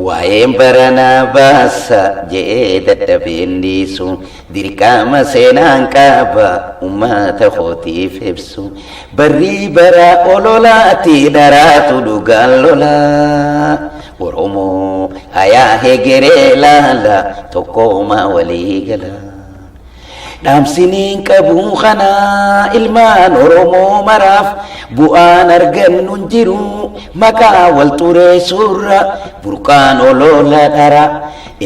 Waa'een baranaa baasa je'ee dadhabeen dhiisu dirqama seenaan qaba ummata kootiif ibsu barrii baraa ololaati dharaatu dhugaan lolaa Oromoo hayaa hegeree laala tokkoomaa walii galaa. Dhaamsiniin qabuu kana ilmaan Oromoo maraaf bu'aan argannu hin jiru maqaa wal xureessuurra burqaan oloola dhara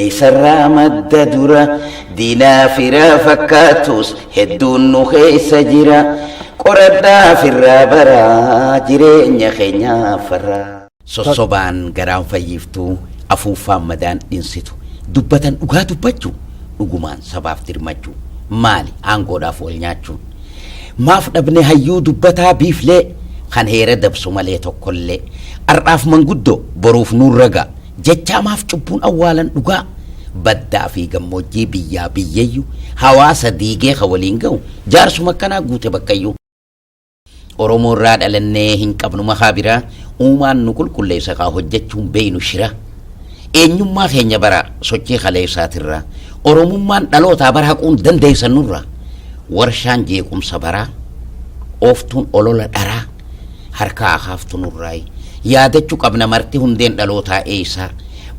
eessarraa madda dura diinaa fira fakkaatus hedduun nu keessa jira qoradhaa firraa bara jireenya keenyaaf farraa. Sossobaan garaan fayyiftu, afuuffaan madaan dhinsitu. Dubbatan dhugaa dubbachuu, dhugumaan sabaaf dirmachuu. Maali aangoodhaaf wal nyaachuun? Maaf dhabne hayyuu dubbataa biiflee, kan heera dabsu malee tokkollee. Ar'aaf manguddoo, boruuf nuun ragaa, jechaa maaf cubbuun awwaalan dhugaa? Baddaa fi gammoojjii biyyaa biyyayyu, hawaasa diigee kan waliin gahu, jaarsuma akkanaa guute bakkayyuu. Oromoo irraa dhalannee hin qabnu makaa biraa uumaan nu qulqulleessa kaa hojjechuun beeynu shira. Eenyummaa keenya bara sochii kaleessaatirraa Oromummaan dhalootaa bara haquun dandeessan nurra. Warshaan jeequmsa baraa ooftuun olola dharaa harkaa akaaftu nurraayi. Yaadachuu qabna marti hundeen dhalootaa eeysaa.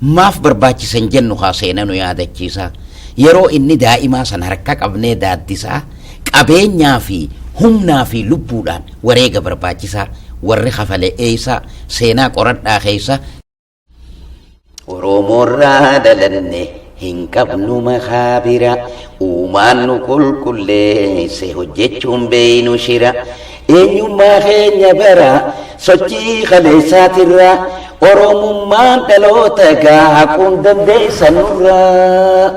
Maaf barbaachisan jennu kaa seena nu yaadachiisaa. Yeroo inni daa'imaa san harka qabnee daaddisaa. qabeenyaa fi humnaa fi lubbuudhaan wareega barbaachisaa warri kafale eeysaa seenaa qoradhaa keeysa Oromoorraa dhalanne hin qabnu makaa bira uumaan nu qulqulleesse hojjechuun beeynu shira eenyummaa keenya bara sochii kaleessaatirraa Oromummaan dhaloota gaa haquun dandeessa nurraa.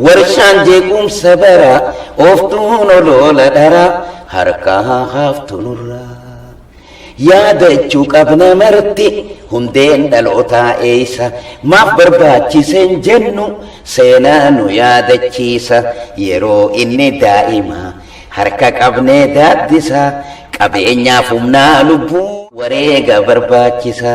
Warshaan jeequmsa baraa. Ooftuun oloola dharaa. Harkaa haa haaftu nurraa. Yaadachuu qabna marti. Hundeen dhalootaa eessa? Maaf barbaachise hin jennu. Seenaa nu yaadachiisa. Yeroo inni daa'ima. Harka qabnee daaddisa. Qabeenyaaf humnaa lubbuu. Wareega barbaachisa.